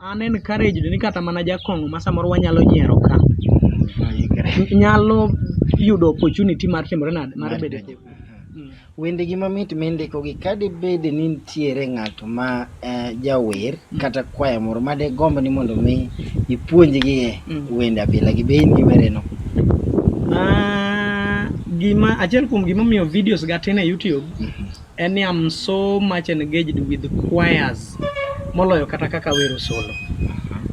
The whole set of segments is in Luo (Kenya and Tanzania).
An encouraged ni kata mana jakong'o ma samoro wanyalo nyiero ka nyalo yudo opportunity mar timore nade mar bedo e koko. Wendegi mamit mindikogi ka dibed ni nitiere ng'ato ma eh, jawer kata kwaya moro ma digomb ni mondo mi ipuonjgi e Mm. wende abila gi be in gi wereno. Ah, gima achiel kuom gimomiyo videos ga tin e YouTube en ni I'm so much engaged with choirs moloyo kata kaka wero solo.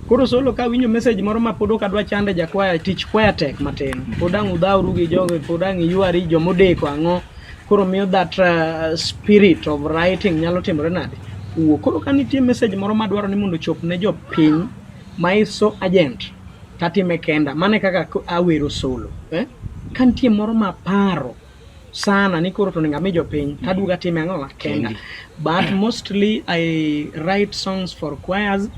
Koro solo ka winjo message moro ma pod ok adwa chande jakwaya tich kwaya tek matin. Pod ang' udhawru gi jogo, pod ang' iywari jomodeko ang'o. Koro miyo that uh, spirit of writing nyalo timore nade? Wuo. Koro ka nitie message moro ma dwaro ni mondo ochop ne jopiny ma is so urgent tatime kenda. Mane kaka awero solo. Eh? Ka nitie moro ma paro sana ni koro toninga mi jopiny mm-hmm. taduga time ang'o kenda but mostly i write songs for choirs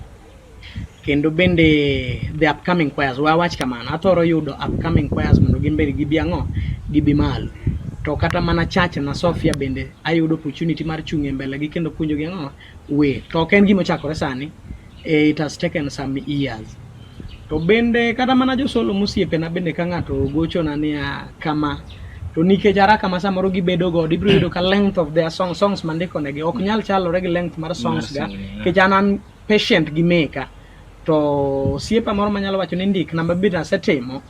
kendo bende the upcoming choirs wa wach kamano athoro yudo upcoming choirs mondo gin bende gibi ang'o gibi malo to kata mana church na Sofia bende ayudo opportunity mar chung' e mbele gi kendo puonjo gi ang'o way to ok en gima ochakore sani eh, it has taken some years to bende kata mana josolo mosiepena bende ka ng'ato gochona niya kama to nikech araka ma samoro gibedo godo ibiro yudo ka length of their song songs mandikonegi ok nyal chalore gi length mar songs ga nikech an an patient gi meka to siepa moro manyalo wacho ni ndik namba bit asetimo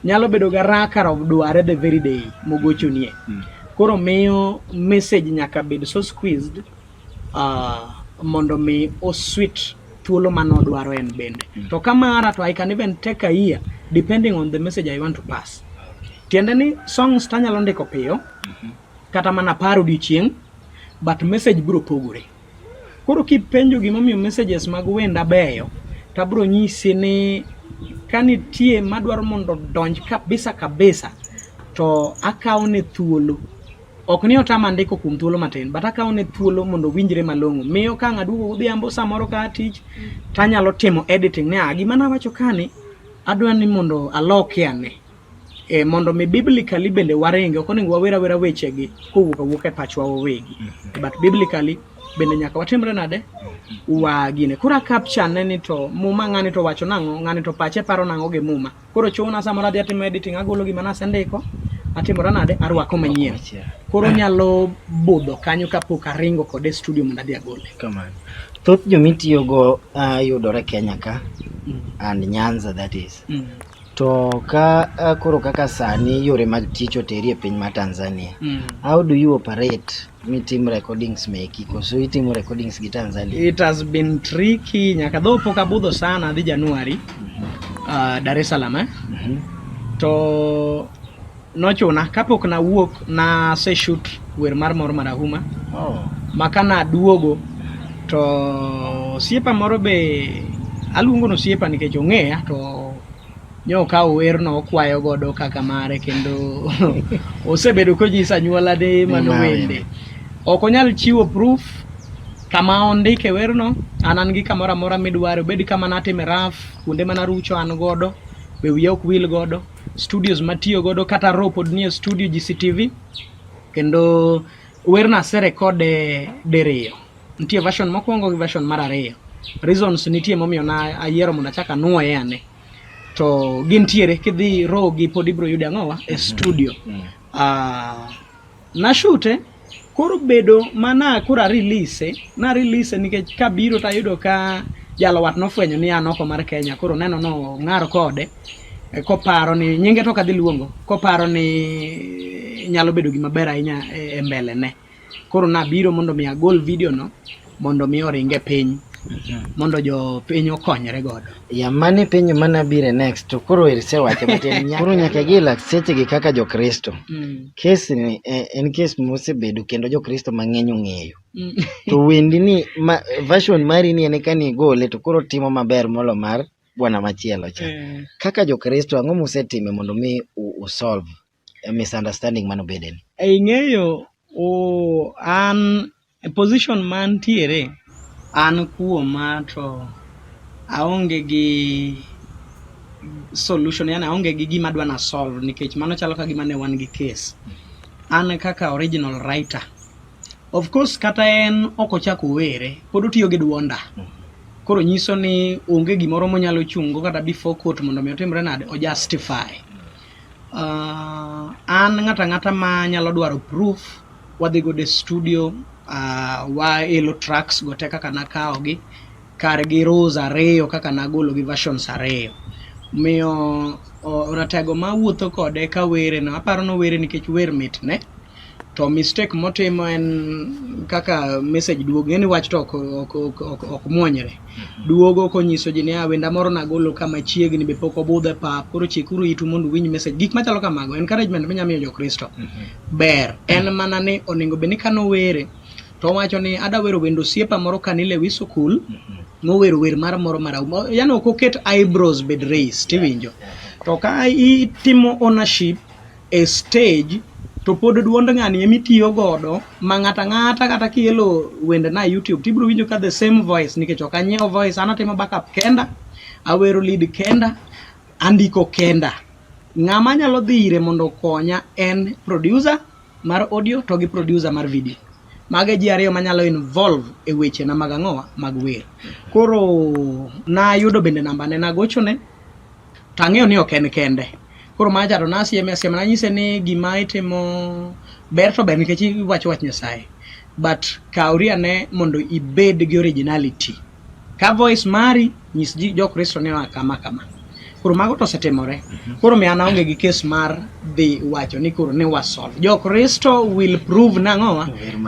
nyalo bedo ga raka of dware the very day mogochonie hmm. koro miyo message nyaka bed so squeezed uh, mondo mi oswit thuolo ma nodwaro en bende mm. to ka mara to I can even take a year depending on the message I want to pass tiende ni songs tanyalo ndiko piyo mm-hmm. kata mana par odiochieng' but message biro pogore koro kipenjo gimomiyo messages mag wenda beyo tabro nyisi ni ka nitie madwaro mondo donj kabisa kabisa to akawo ne thuolo Ok ni otama ndiko kuom thuolo matin, but akawo ne thuolo mondo winjre malong'o. Miyo ka ng'aduogo godhiambo samoro ka atich, tanyalo timo editing ni ah, gima nawacho kani, adwa ni mondo aloke ane. E, mondo mi biblically bende waringe, ok onego wawer awera wechegi kowuok awuok e pachwa wawegi. But biblically bende nyaka watimre nade? Wagine. Koro akapcha ne ni to muma ng'ani to wacho nang'o, ng'ani to pache paro nang'o gi muma. Koro chuna sama nadhi atimo editing agolo gima nasendiko atimora nade arwako manyien koro nyalo budho kanyo kapok aringo kode studio mondo adhi agole kamano thoth jomitiyogo uh, ah, yudore kenya ka mm. and nyanza that is mm. to ka uh, koro kaka sani yore mag tich oteri e piny ma tanzania mm. how do you operate mi tim recordings meki koso itimo recordings gi Tanzania? It has been tricky nyaka dho pok abudho sana dhi Januari mm -hmm. uh, Dar es Salaam eh? mm -hmm. to nochuna kapok nawuok na se shoot wer mar mor marahuma oh. maka naduogo to osiepa moro be aluongo no osiepa nikech ong'eya to nyo okawo werno okwayo godo kaka mare kendo osebedo konyisa anyuolane mano wende ok onyal chiwo proof kama ondike werno an an gi kamoro amora midware obed kama natime raf kuonde mana rucho an godo be wiya ok wil godo studios matiyo godo kata ro pod nie studio GCTV kendo werno aserekode diriyo nitie version mokwongo gi version mar ariyo reasons nitie momiyo na ayiero mondo achak anwoye ane to gintiere kidhi rogi pod ibro yude ang'owa e mhm. studio mm -hmm. uh, nashute koro bedo mana koro arilise na release nikech kabiro tayudo ka jalo wat nofwenyo ni an oko mar Kenya koro neno no ng'ar kode e, koparo ni nyinge to kadhi luongo koparo ni nyalo bedo gima ber ahinya e, e mbele ne Koro nabiro mondo mi agol video no mondo mi oringe piny mondo jo piny okonyre godo. Ya mane penyo mana bire next to koro irse wacho but en nyaka koro nyaka gi lak seche gi kaka jo Kristo. Mm. Kes ni eh, en kes mosebedo kendo jo Kristo mang'eny ong'eyo. Mm. to wendi ni ma, version mari ni en kani igole to koro timo maber molo mar bwana machielo cha. Mm. Kaka jo Kristo ang'o musetime mondo mi usolve? eh, misunderstanding mano bede ni. Ing'eyo oh, an position mantiere an kuoma to aonge gi solution yani aonge gi gima adwa na solve nikech mano chalo ka gima ne wan gi case an kaka original writer of course kata en ok ochako were pod otiyo gi dwonda koro nyiso ni onge gimoro monyalo chungo kata before court mondo mi otimre nade o justify Uh, an ng'ata ng'ata ma nyalo dwaro proof wadhi godo e studio uh, waelo tracks go te kaka nakawogi kargi rows ariyo kaka nagologi versions ariyo miyo ratego ma wuotho kode ka were no aparo no were nikech wer mitne to mistake motimo en kaka message duogo ng'eni wach to ok, ok, ok, ok, ok muonyre mm-hmm. duogo konyiso ji ni awenda ah, moro nagolo kama chiegni be pok obudhe pap koro chikuru itu mondo uwinj message gik machalo kamago encouragement minya miyo jokristo mm-hmm. ber en mana ni onego bed ni kano were to wacho ni ada wero wendo siepa moro kanile wi sukul mm-hmm. mowero wer mar moro marahuma yani ok oket eyebrows bed race tiwinjo to ka itimo ownership e stage to pod duond ng'ani emi tiyo godo ma ng'ato ang'ata kata kielo wende na YouTube to ibiro winjo ka the same voice nikech ok anyiewo voice an atimo backup kenda, awero lead kenda, andiko kenda. Ng'ama nyalo dhi ire mondo okonya en producer mar audio to gi producer mar video. Mage ji ariyo manyalo involve e weche na mag ang'owa mag wer. Koro nayudo bende namba ne nagochone To ang'eyo ni ok en kende. Koro ma aja to nasieme asiema nanyise ni gima itimo ber to ber nikech iwacho wach Nyasaye. But kawri ane mondo ibed gi originality. Ka voice mari nyis ji jo Kristo ni oa kama kama. Koro mago to osetimore. Mhm. Koro mi an aonge gi kes mar dhi wacho ni koro ne wasolve. Jo Kristo will prove nang'owa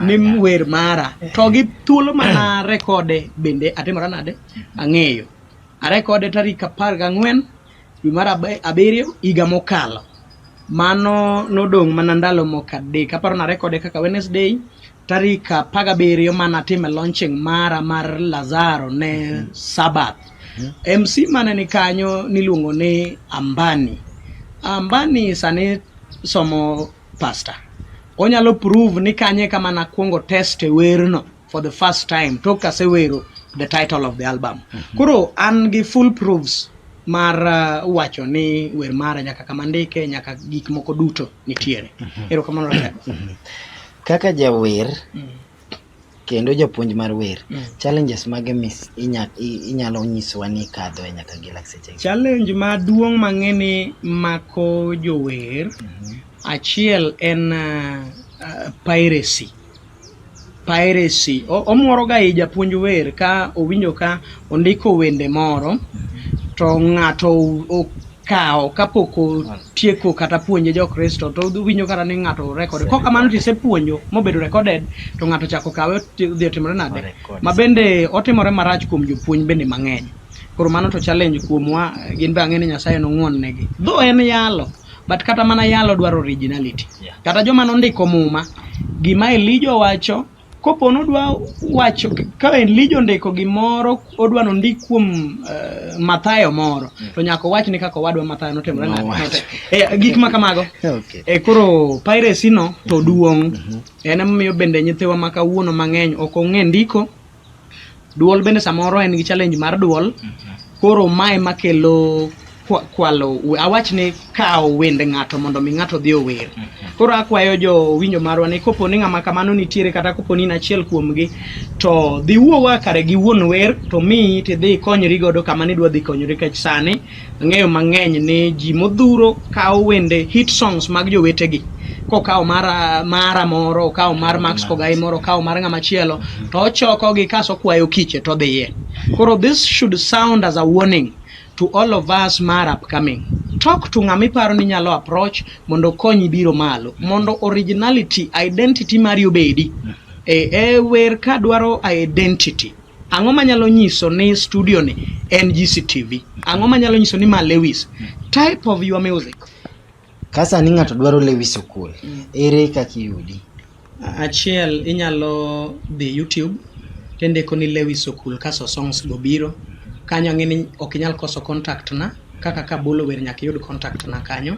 ni wer mara. To gi thuolo mana rekode bende atimora nade? Mhm. Ang'eyo. Arekode tarik apar gang'wen dwe mar abiriyo higa mokalo. Mano nodong' mana ndalo moko adek. Aparo narekode kaka Wednesday tarik apar gabiriyo ma natime launching mara mar Lazaro ne mm-hmm. Sabath. Mm-hmm. MC mane ni kanyo niluongo ni Ambani. Ambani sani somo pasta. Onyalo prove ni kanye kama nakwongo test e werno. for the first time tok asewero the title of the album mm -hmm. koro an gi full proofs mar uh, wacho ni wer mara nyaka kama ndike nyaka gik moko duto nitiere mm -hmm. erokamano mm -hmm. kaka jawer mm -hmm kendo japuonj mar wer mm. challenges mage mis inyalo nyiswa ni kadho e nyaka gi lakseche challenge maduong' mang'e ni mako jower mm -hmm. achiel en uh, uh, piracy Piracy. Omoroga i japuonj wer ka owinjo ka ondiko wende moro to ng'ato okawo kapok otieko kata puonje jokristo to owinjo kata ni ng'ato rekode kok kamano to isepuonjo mobedo recorded to ng'ato chako kawe odhi otimore nade ma bende otimore marach kuom jopuonj bende mang'eny koro mano to challenge kuomwa gin be ang'e ni nyasaye nong'uon negi dho en yalo but kata mana yalo dwaro originality yeah. kata joma nondiko muma gima elijo wacho kopo nodwa wacho ka elijo ndiko gimoro odwa nondik kuom uh, mathayo moro mm. to nyaka owach ni kaka owadwa mathayo notimore no, no, e, gik ma kamago okay. e, koro piracy no to duong' mm -hmm. en emomiyo bende nyithiwa ma kawuono mang'eny ok ong'e ndiko Duol bende samoro en gi challenge mar duol. Koro mae makelo kwa- kwalo we- awach ni kawo wend ng'ato mondo mi ng'ato dhi ower. Koro akwayo jo winjo marwa ni kopo ni ng'ama kamano nitiere kata kopo ni in achiel kuomgi to dhi wuowa kare gi wuon wer to miyi tidhi ikonyri godo kama nidwa dhi konyori kech sani Ang'eyo mang'eny ni ji modhuro kawo wende hit songs mag jowetegi kokawo mara mara moro okawo mar Max Kogai moro okawo mar ng'ama chielo to ochokogi kaso kwayo kiche to dhiye koro this should sound as a warning to all of us mar upcoming talk to ng'ama iparo ni nyalo approach mondo okonyi biro malo mondo originality identity mari obedi e, e wer ka dwaro identity Ang'o manyalo nyiso ni studio ni en GCTV? Ang'o manyalo nyiso ni ma Lewis? Type of your music. Ka sani ng'ato dwaro Lewis Okul, ere kaka iyudi? Achiel inyalo dhi YouTube tindiko ni Lewis Okul kaso songs go biro. Kanyo ang'e ni ok inyal koso contact na, kaka kabolo wer nyaka iyud contact na kanyo.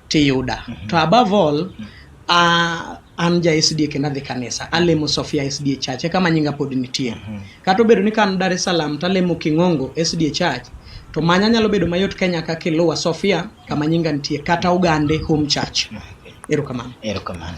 tiyuda mm -hmm. to above all mm -hmm. uh, an ja SDA kendo adhi kanisa alemo Sofia SDA Church eka manyinga pod nitie mm -hmm. kata obedo ni kan Dar es Salaam talemo King'ongo SDA Church to manya nyalo bedo mayot Kenya ka kiluwa Sofia kama nyinga nitie kata Ogande Home Church mm -hmm. erokamano erokamano